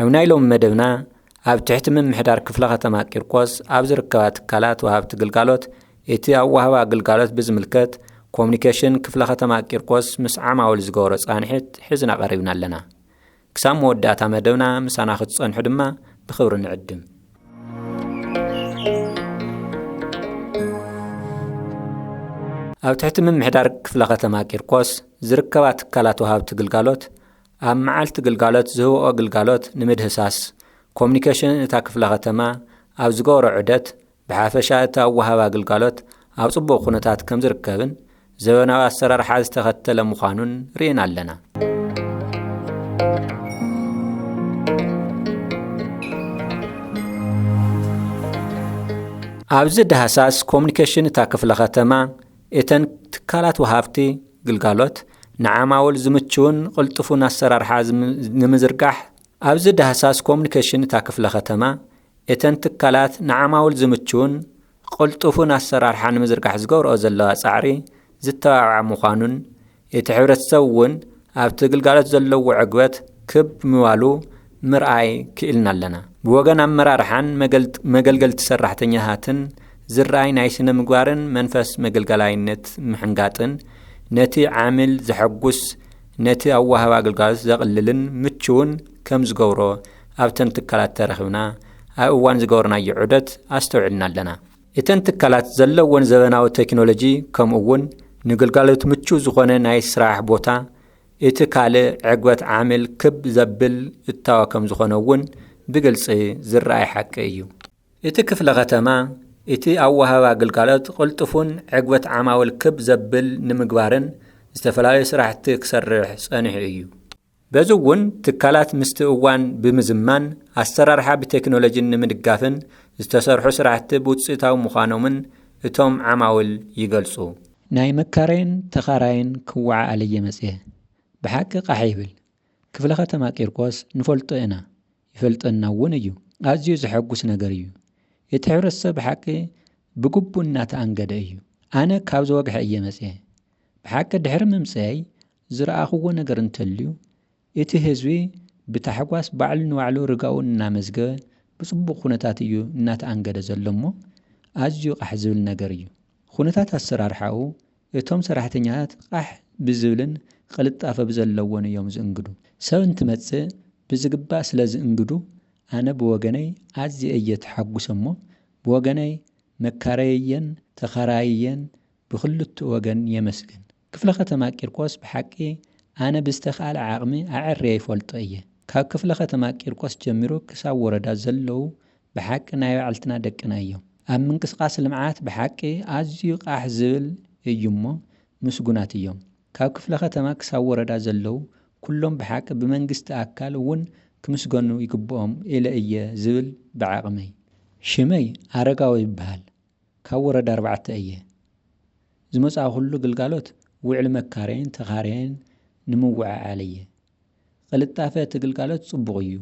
ኣብ ናይ ሎሚ መደብና ኣብ ትሕቲ ምምሕዳር ክፍለ ከተማ ቂርቆስ ኣብ ዝርከባ ትካላት ወሃብቲ ግልጋሎት እቲ ኣወሃህባ ግልጋሎት ብዝምልከት ኮሙኒኬሽን ክፍለ ከተማ ቂርቆስ ምስ ዓማውል ዝገበሮ ፃንሒት ሒዝና ቀሪብና ኣለና። ክሳብ መወዳእታ መደብና ምሳና ክትፀንሑ ድማ ብክብሪ ንዕድም። ኣብ ትሕቲ ምምሕዳር ክፍለ ከተማ ቂርቆስ ዝርከባ ትካላት ወሃብቲ ግልጋሎት ኣብ መዓልቲ ግልጋሎት ዝህብኦ ግልጋሎት ንምድህሳስ ኮሙኒኬሽን እታ ክፍለ ከተማ ኣብ ዝገበሮ ዑደት ብሓፈሻ እቲ ኣወሃባ ግልጋሎት ኣብ ፅቡቕ ኩነታት ከምዝርከብን ዘበናዊ ኣሰራርሓ ዝተኸተለ ምዃኑን ርኢና ኣለና። ኣብዚ ዳህሳስ ኮሙኒኬሽን እታ ክፍለ ከተማ እተን ትካላት ወሃብቲ ግልጋሎት ንዓማውል ዝምችውን ቕልጡፉን ኣሰራርሓ ንምዝርጋሕ ኣብዚ ዳህሳስ ኮሙኒኬሽን እታ ክፍለ ከተማ እተን ትካላት ንዓማውል ዝምችውን ቕልጡፉን ኣሰራርሓ ንምዝርጋሕ ዝገብረኦ ዘለዋ ፃዕሪ ዝተባብዓ ምዃኑን እቲ ሕብረተሰብ እውን ኣብቲ ግልጋሎት ዘለዎ ዕግበት ክብ ምባሉ ምርኣይ ክኢልና ኣለና። ብወገን ኣመራርሓን መገልገልቲ ሰራሕተኛታትን ዝርኣይ ናይ ስነ ምግባርን መንፈስ መገልገላይነት ምሕንጋጥን ነቲ ዓሚል ዘሐጉስ ነቲ ኣዋሃቢ ኣገልጋሎት ዘቕልልን ምቹውን ከም ዝገብሮ ኣብተን ትካላት ተረኺብና ኣብ እዋን ዝገበርናዮ ዑደት ኣስተውዒልና ኣለና። እተን ትካላት ዘለወን ዘበናዊ ተክኖሎጂ ከምኡ እውን ንግልጋሎት ምቹው ዝኾነ ናይ ስራሕ ቦታ እቲ ካልእ ዕግበት ዓሚል ክብ ዘብል እታወ ከምዝኾነ እውን ብግልፂ ዝረኣይ ሓቂ እዩ። እቲ ክፍለ ከተማ እቲ ኣወሃህባ ግልጋሎት ቕልጡፉን ዕግበት ዓማውል ክብ ዘብል ንምግባርን ዝተፈላለዩ ስራሕቲ ክሰርሕ ፀኒሑ እዩ። በዚ እውን ትካላት ምስቲ እዋን ብምዝማን ኣሰራርሓ ብቴክኖሎጂን ንምድጋፍን ዝተሰርሑ ስራሕቲ ብውፅኢታዊ ምዃኖምን እቶም ዓማውል ይገልፁ። ናይ መካረይን ተኻራይን ክወዓኣለይ እየ መፅየ ብሓቂ ቃሕ ይብል ክፍለ ከተማ ቂርቆስ ንፈልጦ ኢና ይፈልጠና እውን እዩ ኣዝዩ ዘሐጉስ ነገር እዩ እቲ ሕብረተሰብ ብሓቂ ብግቡእ እናተኣንገደ እዩ ኣነ ካብ ዘወግሐ እየ መፅየ ብሓቂ ድሕሪ ምምፀየይ ዝረኣኹዎ ነገር እንተልዩ፣ እቲ ህዝቢ ብታሕጓስ ባዕሉ ንባዕሉ ርጋኡ እናመዝገበ ብጽቡቕ ኩነታት እዩ እናተኣንገደ ዘሎ እሞ ኣዝዩ ቓሕ ዝብል ነገር እዩ። ኹነታት ኣሰራርሓኡ እቶም ሰራሕተኛታት ቓሕ ብዝብልን ቕልጣፈ ብዘለዎን እዮም ዝእንግዱ። ሰብ እንትመጽእ ብዝግባእ ስለ ዝእንግዱ ኣነ ብወገነይ ኣዝየ እየ ተሓጉሰ እሞ ብወገነይ መካረይየን ተኻራይየን ብኽልትኡ ወገን የመስግን። ክፍለ ከተማ ቂርቆስ ብሓቂ ኣነ ብዝተኽኣለ ዓቕሚ ኣዐርየ ይፈልጦ እየ ካብ ክፍለ ከተማ ቂርቆስ ጀሚሩ ክሳብ ወረዳ ዘለዉ ብሓቂ ናይ ባዕልትና ደቅና እዮም ኣብ ምንቅስቓስ ልምዓት ብሓቂ ኣዝዩ ቓሕ ዝብል እዩ እሞ ምስጉናት እዮም ካብ ክፍለ ከተማ ክሳብ ወረዳ ዘለዉ ኩሎም ብሓቂ ብመንግስቲ ኣካል እውን ክምስገኑ ይግብኦም ኢለ እየ ዝብል ብዓቕመይ። ሽመይ ኣረጋዊ ይበሃል ካብ ወረዳ ኣርባዕተ እየ ዝመጻእኹሉ ግልጋሎት ውዕሊ መካረይን ተኻረይን ንምውዕዓል እየ። ቕልጣፈ እቲ ግልጋሎት ጽቡቕ እዩ።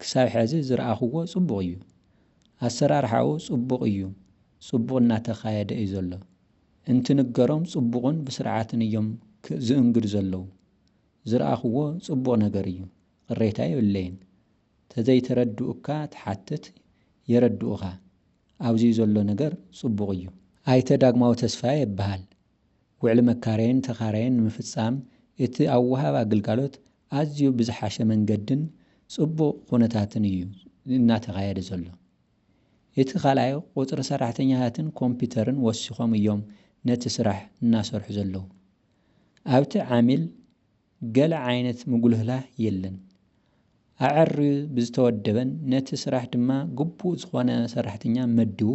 ክሳብ ሕዚ ዝረኣኹዎ ጽቡቕ እዩ። ኣሰራርሓኡ ጽቡቕ እዩ፣ ጽቡቕ እናተኻየደ እዩ ዘሎ። እንትንገሮም ጽቡቕን ብስርዓትን እዮም ዝእንግዱ ዘለዉ። ዝረኣኹዎ ጽቡቕ ነገር እዩ፣ ቕሬታ የብለይን። ተዘይተረድኡካ ትሓትት የረድኡኻ ኣብዙይ ዘሎ ነገር ፅቡቅ እዩ። ኣይተ ዳግማዊ ተስፋየ እብሃል። ውዕሊ መካረይን ተኻራይን ንምፍፃም እቲ ኣወሃህባ ግልጋሎት ኣዝዩ ብዝሓሸ መንገድን ፅቡቕ ኹነታትን እዩ እናተኻየደ ዘሎ። እቲ ካልኣይ ቑፅሪ ሰራሕተኛታትን ኮምፒተርን ወሲኾም እዮም ነቲ ስራሕ እናሰርሑ ዘለዉ። ኣብቲ ዓሚል ገለ ዓይነት ምጉልህላህ የለን። ኣዐርዩ ብዝተወደበን ነቲ ስራሕ ድማ ግቡእ ዝኾነ ሰራሕተኛ መዲቡ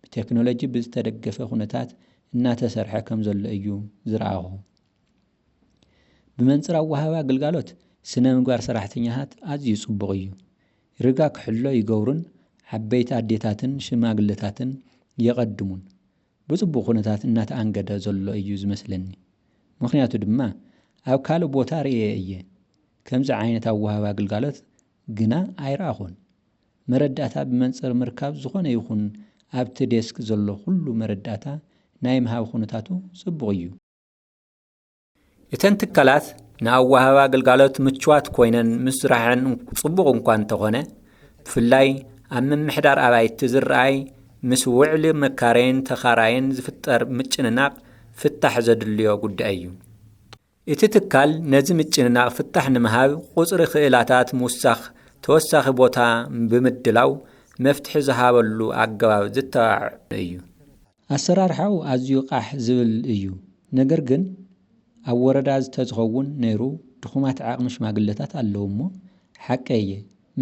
ብቴክኖሎጂ ብዝተደገፈ ኩነታት እናተሰርሐ ከምዘሎ እዩ ዝረኣኹ። ብመንፅር ኣወሃህባ ግልጋሎት ስነ ምግባር ሰራሕተኛታት ኣዝዩ ፅቡቕ እዩ። ርጋ ክሕሎ ይገብሩን ዓበይቲ ኣዴታትን ሽማግለታትን የቐድሙን። ብፅቡቕ ኩነታት እናተኣንገደ ዘሎ እዩ ዝመስለኒ። ምኽንያቱ ድማ ኣብ ካልእ ቦታ ርእየ እየ። ከምዚ ዓይነት ኣወሃህባ ግልጋሎት ግና ኣይረኣኹን። መረዳእታ ብመንፅር ምርካብ ዝኾነ ይኹን ኣብቲ ዴስክ ዘሎ ኩሉ መረዳእታ ናይ ምሃብ ኩነታቱ ፅቡቕ እዩ። እተን ትካላት ንኣወሃህባ ግልጋሎት ምቹዋት ኮይነን ምስራሐን ጽቡቕ እኳ እንተኾነ ብፍላይ ኣብ ምምሕዳር ኣባይቲ ዝረኣይ ምስ ውዕሊ መካረይን ተኻራይን ዝፍጠር ምጭንናቕ ፍታሕ ዘድልዮ ጉዳይ እዩ። እቲ ትካል ነዚ ምጭንናቕ ፍታሕ ንምሃብ ቁጽሪ ክእላታት ምውሳኽ ተወሳኺ ቦታ ብምድላው መፍትሒ ዝሃበሉ ኣገባብ ዝተባዕ እዩ። ኣሰራርሓኡ ኣዝዩ ቃሕ ዝብል እዩ ነገር ግን ኣብ ወረዳ ዝተዝኸውን ነይሩ ድኹማት ዓቕሚ ሽማግለታት ኣለው እሞ ሓቀይ እየ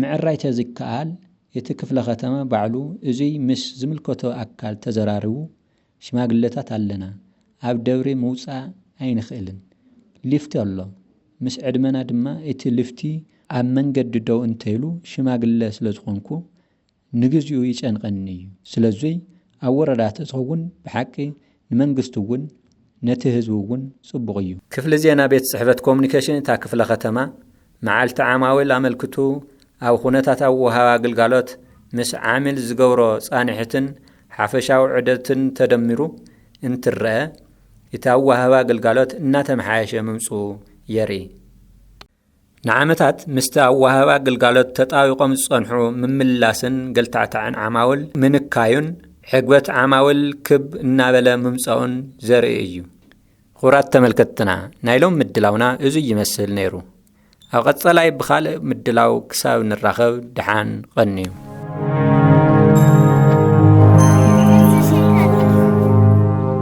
ምዕራይ ተዝከኣል እቲ ክፍለ ከተማ ባዕሉ እዙይ ምስ ዝምልከቶ ኣካል ተዘራሪቡ ሽማግለታት ኣለና ኣብ ደብሪ ምውፃእ ኣይንኽእልን ሊፍቲ ኣሎ ምስ ዕድመና ድማ እቲ ልፍቲ ኣብ መንገዲ ደው እንተይሉ ሽማግለ ስለዝኾንኩ ንግዚኡ ይጨንቐኒ እዩ ስለዙይ ኣብ ወረዳ ተትኸውን ብሓቂ ንመንግስቲ እውን ነቲ ህዝቢ እውን ፅቡቕ እዩ። ክፍሊ ዜና ቤት ፅሕፈት ኮሙኒኬሽን እታ ክፍለ ከተማ መዓልቲ ዓማዊል ኣመልክቱ ኣብ ኹነታት ኣወሃህባ ግልጋሎት ምስ ዓሚል ዝገብሮ ፃንሒትን ሓፈሻዊ ዑደትን ተደሚሩ እንትረኣ እቲ ኣወሃህባ ግልጋሎት እናተመሓየሸ ምምፅኡ የርኢ። ንዓመታት ምስቲ ኣወሃህባ ግልጋሎት ተጣቢቖም ዝጸንሑ ምምልላስን ገልታዕታዕን ዓማውል ምንካዩን ዕግበት ዓማውል ክብ እናበለ ምምጻኡን ዘርኢ እዩ። ኹብራት ተመልከትትና ናይ ሎም ምድላውና እዙይ ይመስል ነይሩ። ኣብ ቐጸላይ ብኻልእ ምድላው ክሳብ ንራኸብ ድሓን ቐንዩ።